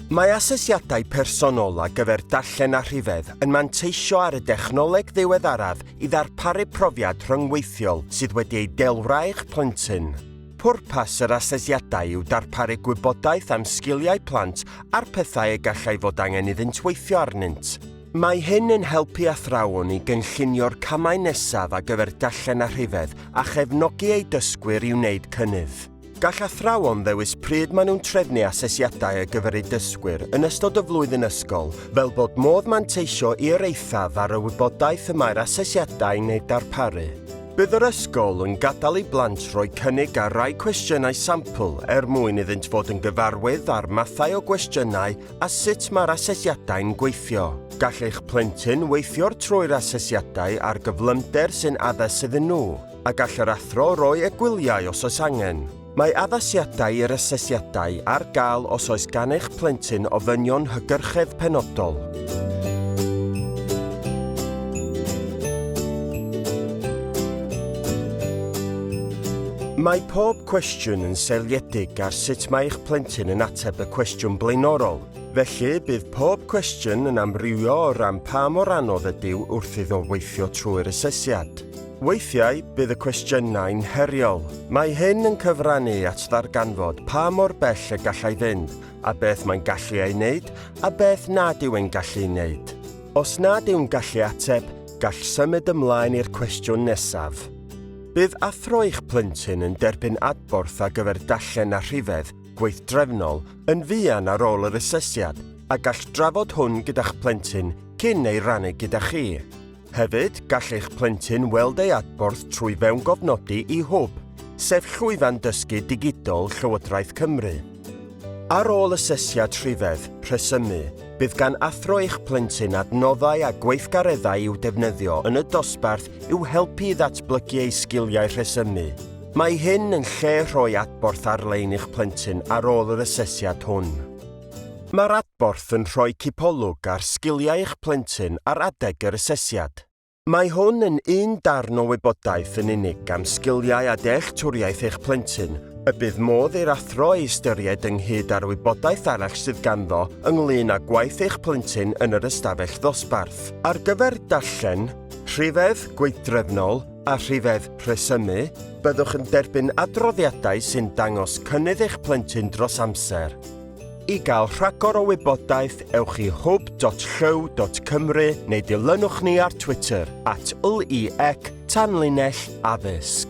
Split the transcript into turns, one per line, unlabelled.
Mae asesiadau personol ar gyfer darllen a rhifedd yn manteisio ar y dechnoleg ddiweddaraf i ddarparu profiad rhyngweithiol sydd wedi ei delwra eich plentyn. Pwrpas yr asesiadau yw darparu gwybodaeth am sgiliau plant a'r pethau y gallai fod angen iddynt weithio arnynt. Mae hyn yn helpu athrawon i gynllunio'r camau nesaf ar gyfer darllen a rhifedd a chefnogi eu dysgwyr i wneud cynnydd. Gall athrawon ddewis pryd maen nhw'n trefnu asesiadau ar gyfer eu dysgwyr yn ystod y flwyddyn ysgol, fel bod modd manteisio i'r eithaf ar y wybodaeth y mae'r asesiadau'n ei darparu. Bydd yr ysgol yn gadael i blant roi cynnig ar rai cwestiynau sampl er mwyn iddynt fod yn gyfarwydd â'r mathau o gwestiynau a sut mae'r asesiadau'n gweithio. Gall eich plentyn weithio'r trwy'r asesiadau ar gyflymder sy'n addas iddyn nhw, a gall yr athro roi egwyliau os oes angen. Mae addasiadau i'r asesiadau ar gael os oes gan eich plentyn ofynion hygyrchedd penodol. Mae pob cwestiwn yn seiliedig ar sut mae eich plentyn yn ateb y cwestiwn blaenorol. Felly, bydd pob cwestiwn yn amrywio o ran pa mor anodd ydyw wrth iddo weithio trwy'r asesiad. Weithiau, bydd y cwestiynau'n heriol. Mae hyn yn cyfrannu at ddarganfod pa mor bell y gallai fynd, a beth mae'n gallu ei wneud, a beth nad yw e'n gallu'i wneud. Os nad yw'n gallu ateb, gall symud ymlaen i'r cwestiwn nesaf. Bydd athro eich plentyn yn derbyn adborth ar gyfer dallen a rhifedd gweithdrefnol yn fuan ar ôl yr asesiad a gall drafod hwn gyda'ch plentyn cyn ei rannu gyda chi. Hefyd, gall eich plentyn weld ei adborth trwy fewngofnodi i hwb, sef llwyfan dysgu digidol Llywodraeth Cymru. Ar ôl asesiad rhifedd, rhesymu, bydd gan athro eich plentyn adnoddau a gweithgareddau i'w defnyddio yn y dosbarth i'w helpu i ddatblygu ei sgiliau rhesymu. Mae hyn yn lle rhoi adborth ar-lein i'ch plentyn ar ôl yr asesiad hwn. Mae'r adborth yn rhoi cipolwg ar sgiliau eich plentyn ar adeg yr asesiad. Mae hwn yn un darn o wybodaeth yn unig am sgiliau a dealltwriaeth eich plentyn y bydd modd i'r athro ei ystyried ynghyd â'r wybodaeth arall sydd ganddo ynglŷn â gwaith eich plentyn yn yr ystafell ddosbarth. Ar gyfer darllen, rhifedd, gweithdrefnol, a rhifedd rhesymu, byddwch yn derbyn adroddiadau sy'n dangos cynnydd eich plentyn dros amser. I gael rhagor o wybodaeth, ewch i hwb.llyw.cymru neu dilynwch ni ar Twitter at LEEC Tanlinell Addysg.